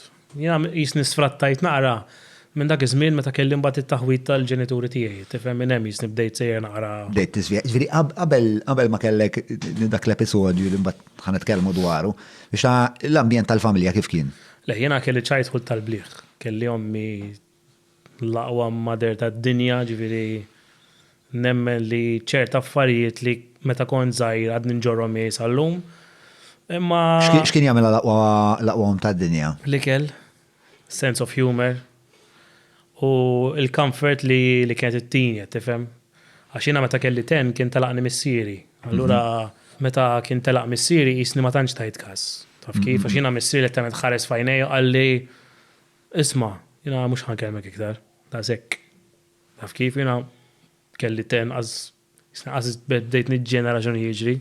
Ħadd. Jiena qisni sfrattajt naqra minn dak iż-żmien meta kelli mbagħad it-taħwid tal-ġenituri tiegħi. Tifhem minn hemm qisni bdejt sejjer naqra. Bdejt tiżvijak. Jiġifieri qabel qabel ma kellek dak l-episodju li mbagħad ħa nitkellmu dwaru, l-ambjent tal-familja kif kien? Le, jiena kelli childhood tal-bliħ. Kelli ommi l-aqwa mother tad-dinja, ġifieri nemmen li ċert affarijiet li meta kont żgħir għadni nġorrhom miegħi sal-lum. Imma. X'kien jagħmilha l-aqwa omm tad-dinja? L-ikel, sense of humour u l-comfort li kienet ittini, qed tifhem? Għax jiena meta kelli tenn kien telaqni missieri. Allura meta kien telaq missieri qisni ma tantx tajt kas. Taf kif? Għax jiena missieri letteralment ħares f'għajnejja u qalli, Isma', jiena mhux ħa nkellmek iktar, daqshekk. Taf kif, jiena kelli te inqas, jisni qas bdejt niġġenera x'inhu jiġri.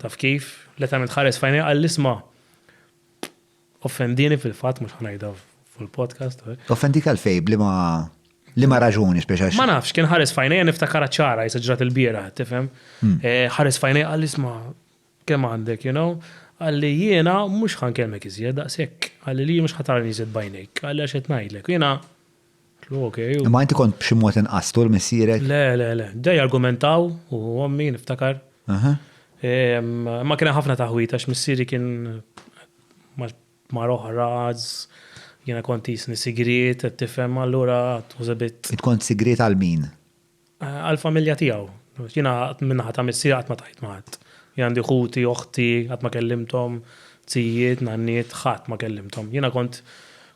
Taf kif, letteralment ħares f'għajnejja qalli isma', offendieni fil-fatt mhux ħa ngħidha fuq il-podcast. Offendik għalfejn bliema liema raġuni speċa. Ma nafx, kien ħares f'għajnejja niftakara ċara jisa ġrat il-bieraħ, tifhem? Ħares f'għajnejja qalli isma' Kemm għandek, you know? Qalli, Jiena mhux ħa nkellmek iżjed, daqshekk. Qalli, Li mhux ħa tarani iżjed b'għajnejk. Qalli, Għax qed ngħidlek. U jiena għedtlu, Ok, u. Imma inti kont b'xi mod inqas tul missierek? Le, le, le. Bdew jargumentaw, hu u ommi, niftakar. Aha. Imma kien hemm ħafna taħwid għax missieri kien ma' mara oħra, għaż, jiena kont qisni sigriet, qed tifhem, allura it was a bit. Int kont sigriet għal min? għall-familja tiegħu. Jiena min-naħa ta' missieri qatt ma tajt ma' ħadd. Jien għandi ħuti, oħti, qatt ma kellimthom, zijiet, nanniet, ħadd ma kellimthom. Jiena kont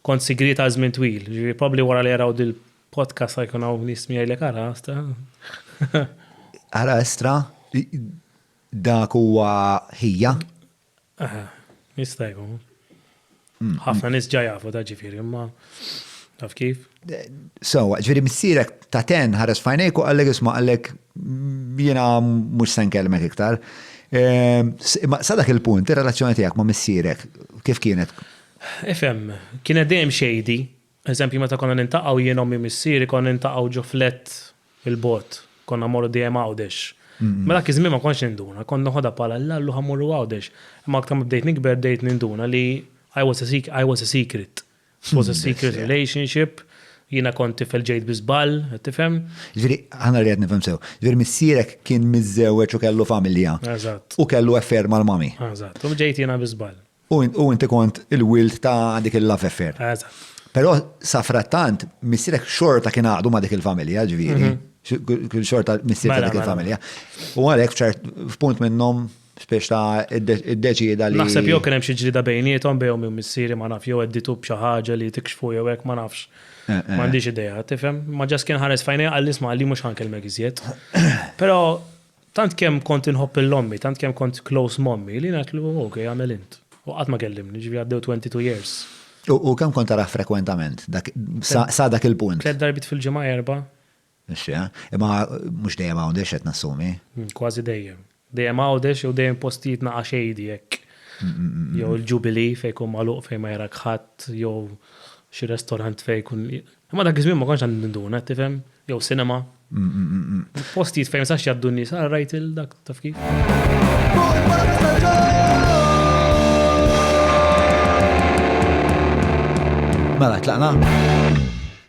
kont sigriet għal żmien twil. Ġifieri probabbli wara li jaraw dil-podcast ħa jkun hawn nies jgħidlek ara sta. Ara estra, dak huwa ħija. Aha, jista' jkun. Mm. Ħafna nies ġa jafu da ġifieri, imma taf kif? So, ġifieri missierek ta' ten ħares fajnejk u qallek isma' qallek jiena mhux se nkellmek iktar. Ehm, Sadak il-punt, ir-relazzjoni tiegħek ma' missierek kif kienet? Ifhem, kienet dejjem xejdi, Eżempju, meta konna niltaqgħu jien, ommi u missieri, konna niltaqgħu ġo flat 'il bogħod. Konna mmorru dejjem Għawdex. Ma dak iż-żmien ma kontx ninduna, kont noħodha bħala la llum ħa mmorru Għawdex. Imma aktar ma bdejt nikber bdejt ninduna li I was a secret, I was a secret. It was a secret relationship, jiena kont tifel ġejt bi żball, qed tifhem? Ġifieri, ħa nara li qed nifhem sew. Ġifieri missierek kien miżżewweġ u kellu familja. Eżatt. U kellu affair mal-mommy. Eżatt. U ġejt jiena bi żball. U inti kont il-wild ta' dik il-love affair. Eżatt. Però sa frattant, missierek xorta kien għadu ma' dik il-familja, ġviri. Kien xorta missier ta' dik mela, mela. il-familja. U għalek f'punt minnom spiex ta' id-deċida li. Naħseb jew kien hemm xi ġlida bejnietom bejhom jew missieri ma naf jew għedditu b'xi ħaġa li tikxfu jew hekk ma nafx. Eh, eh. M'għandix idea, tifhem? Ma ġas kien ħares fajnejha qal isma' li mhux ħankellmek iżjed. Però Tant kemm kont inħobb lil ommi, tant kemm kont close m'ommi, li ngħidlu ok, agħmel int. U qatt ma kellimni, jiġifieri għaddew 22 years. U kemm kont tarah frekwentament, sa dak il-punt? Tliet darbiet fil-ġimgħa, erba'. Mhix xejn. Imma mhux dejjem Għawdex qed nassumi? Kważi dejjem. Dejjem Għawdex jew dejjem postijiet naqgħa xejdi hekk. Jew il-Jubilee fejn jkun magħluq fejn ma jarahk ħadd jew xi restorant fejn jkun Imma dak iż-żmien ma kontx għandi nduna, tifhem, jew sinema. Postijiet fejn sax jgħaddu n-nies, ara rajt il dak taf kif. Mela, tlaqna?